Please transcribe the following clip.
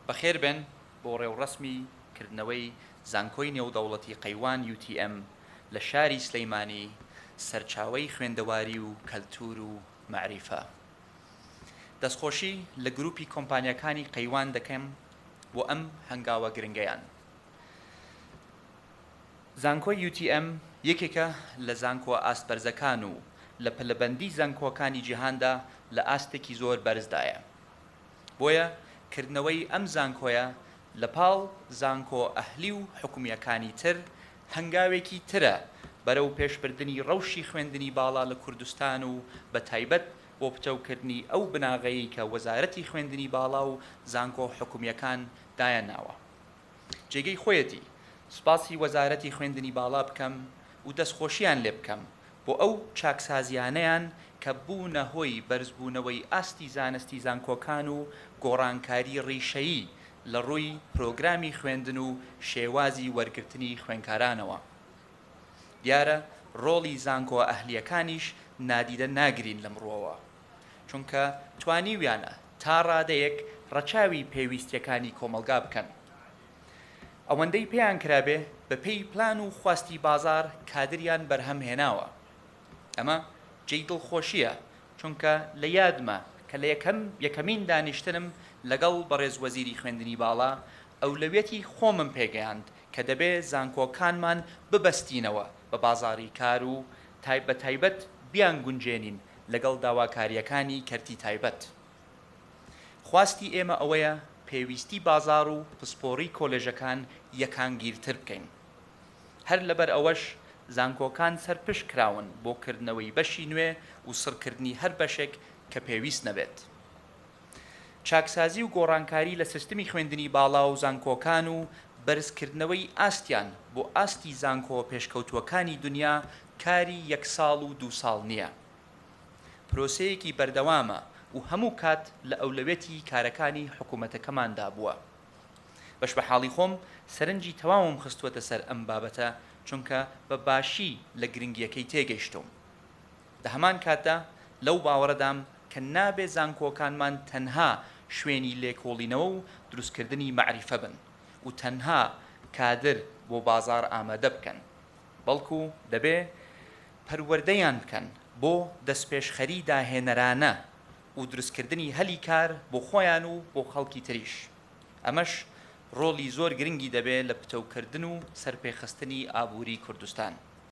بەخێربێن بۆ ڕێوڕەسمی کردنەوەی زانکۆی نێودەوڵەتی قەیوان UTM لە شاری سلەیمانی سەرچاوەی خوێندەواری و کەلتور و مەعریفە. دەستخۆشی لە گروپی کۆمپانیاکانی قەیوان دەکەم بۆ ئەم هەنگاوە گرنگەیان. زانکۆی UTM یەکێکە لە زانکۆ ئاست بەرزەکان و لە پلەبەندی زانکۆکانی جیهاندا لە ئاستێکی زۆر بەرزدایە. بۆیە کردنەوەی ئەم زانکۆیە لە پاڵ زانکۆ ئەهلی و حکومییەکانی تر هەنگاوێکی ترە بەرەو پێشبردنی ڕەوشی خوێندنی باڵا لە کوردستان و بە تایبەت بۆ پتەوکردنی ئەو بناغەیەی کە وەزارەتی خوێندنی باڵا و زانکۆ حکومییەکان دایانناوە. جێگەی خۆیەتی سوپاسی وەزارەتی خوێندنی باڵا بکەم و دەستخۆشییان لێ بکەم بۆ ئەو چاکسازییانەیان کە بوونە هۆی بەرزبوونەوەی ئاستی زانستی زانکۆکان و گۆڕانکاری ڕیشەیی لە ڕووی پرۆگرامی خوێندن و شێوازی وەرگرتنی خوێنکارانەوە. دیارە ڕۆڵی زانکۆ ئەهلییەکانیش نادیدە ناگرین لەم ڕووەوە. چونکە توانیویانە تا ڕادەیەک ڕەچاوی پێویستیەکانی کۆمەڵگا بکەن. ئەوەندەی پێیان کرابێ بە پێی پلان و خواستی بازار کادریان بەرهەم هێناوە. ئەمە جێی دڵخۆشیە چونکە لە یادمە کە لە یەکەم یەکەمین دانیشتنم لەگەڵ بەڕێز وەزیری خوێندنی باڵا ئەولەویەتی خۆمم پێگەیاند کە دەبێ زانکۆکانمان ببەستینەوە بە بازاری کار و بە تایبەت بیانگونجێنین لەگەڵ داواکارییەکانی کەرتی تایبەت، خواستی ئێمە ئەوەیە پێویستی بازاڕ و پسپۆڕی کۆلێژەکان یەکانگیرتر بکەین، هەر لەبەر ئەوەش زانکۆکان سەرپشک کراون بۆ کردنەوەی بەشی نوێ و سڕکردنی هەر بەشێک کە پێویست نەبێت. چاکسازی و گۆڕانکاری لە سیستمی خوێندنی باڵا و زانکۆکان و بەرزکردنەوەی ئاستیان بۆ ئاستی زانکۆ پێشکەوتووەکانی دنیا کاری یەک ساڵ و دوو ساڵ نییە پرۆسەیەکی بەردەوامە و هەموو کات لە ئەولەوێتی کارەکانی حکوومەتەکەماندا بووە بەشبەحاڵی خۆم سەرنجی تەواوم خستووەتە سەر ئەم بابەتە چونکە بە باشی لە گرنگییەکەی تێگەیشتووم. لە هەمان کاتدا لەو باوەڕەدام کە نابێ زانکۆکانمان تەنها شوێنی لێکۆڵینەوە و دروستکردنی مەعریفە بن و تەنها کادر بۆ بازاڕ ئامادە بکەن، بەڵکو دەبێ پەروەردەیان بکەن بۆ دەستپێشخەری داهێنەرانە و دروستکردنی هەلی کار بۆ خۆیان و بۆ خەڵکی تریش. ئەمەش ڕۆڵی زۆر گرنگی دەبێ لە پتەوکردن و سەرپێخستنی ئابووری کوردستان.